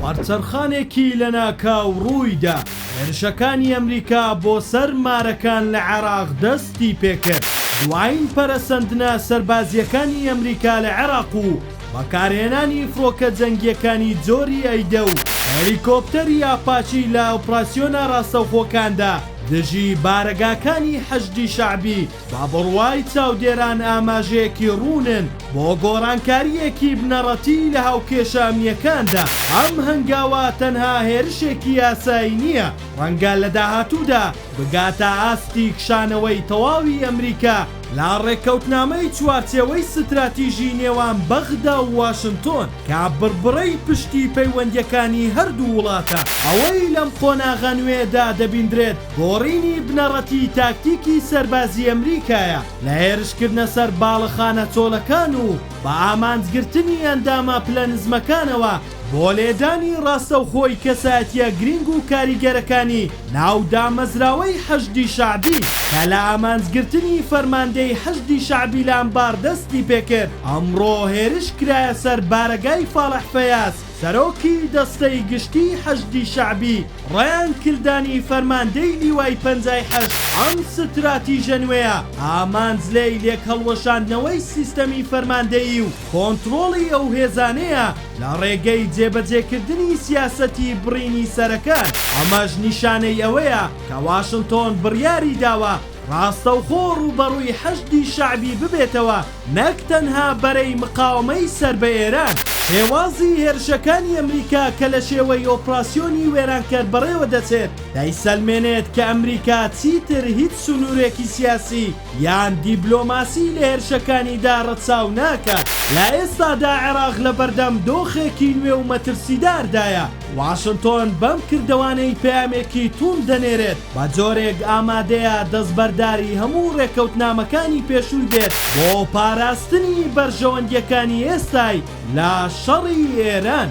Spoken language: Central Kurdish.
وەرچەرخانێکی لەناکاو ڕوویدا، هێرشەکانی ئەمریکا بۆ سەر مارەکان لە عێراق دەستی پێکرد، دوایین پەرەسەندنە سەربازییەکانی ئەمریکا لە عێراق و بەکارهێنانی فڕۆکە جەنگییەکانی جۆری ئەیدە و هەلیکۆپتەری ئاپاچی لە ئۆپراسیۆنە ڕاستەوخۆکاندا دژی بارەگاکانی حەشدی شەعبی بە بڕوای چاودێران ئاماژەیەکی ڕوونن بۆ گۆڕانکارییەکی بنەڕەتی لە هاوکێشە ئەمنییەکاندا، ئەم هەنگاوە تەنها هێرشێکی یاسایی نییە، ڕەنگە لە داهاتوودا بگاتە ئاستی کشانەوەی تەواوی ئەمریکا لە ڕێککەوتنامەی چوارچێوەی ستراتیژی نێوان بەغدا و واشنتۆن کە بڕبڕەی پشتی پەیوەندییەکانی هەردوو وڵاتە. ئەوەی لەم قۆناغە نوێیەدا دەبیندرێت، گۆڕینی بنەڕەتی تاکتیکی سەربازی ئەمریکایە لە هێرشکردنە سەر باڵەخانە چۆلەکان و بە ئامانجگرتنی ئەندامە پلە نزمەکانەوە بۆ لێدانی ڕاستەوخۆی کەسایەتیە گرینگ و کاریگەرەکانی ناو دامەزراوەی حەشدی شەعبی کە لە ئامانجگرتنی فەرماندەی حەشدی شەعبی لە ئەنبار دەستی پێکرد ئەمڕۆ هێرش کرایە سەر بارەگای فالح فەیاز سەرۆکی دەستەی گشتی حەشدی شەعبی ڕایان کلدانی فەرماندەی لیوای پەنجای حەشد ئەم ستراتیژە نوێیە ئامانج لێی لێکهەڵوەشاندنەوەی سیستەمی فەرماندەیی و کۆنتڕۆڵی ئەو هێزانەیە لە ڕێگەی جێبەجێکردنی سیاسەتی بڕینی سەرەکان ئەمەش نیشانەی ئەوەیە کە واشنتۆن بڕیاریداوە ڕاستەوخۆ ڕووبەڕووی حەشدی شەعبی ببێتەوە نەک تەنها بەرەی مقاوەمەی سەر بە ئێران هێوازی هێرشەکانی ئەمریکا کە لە شێوەی ئۆپراسیۆنی وێرانکەر بەڕێوە دەچێت دەیسەلمێنێت کە ئەمریکا چیتر هیچ سنوورێکی سیاسی یان دیبلۆماسی لە هێرشەکانیدا ڕەچاو ناکات. لە ئێستادا عێراق لە بەردەم دۆخێکی نوێ و مەترسیداردایە، واشنتۆن بەم کردەوانەی پەیامێکی تووند دەنێرێت بە جۆرێک ئامادەیە دەستبەرداری هەموو ڕێکەوتنامەکانی پێشووی بێت بۆ پاراستنی بەرژەوەندییەکانی ئێستای لە شەڕی ئێران.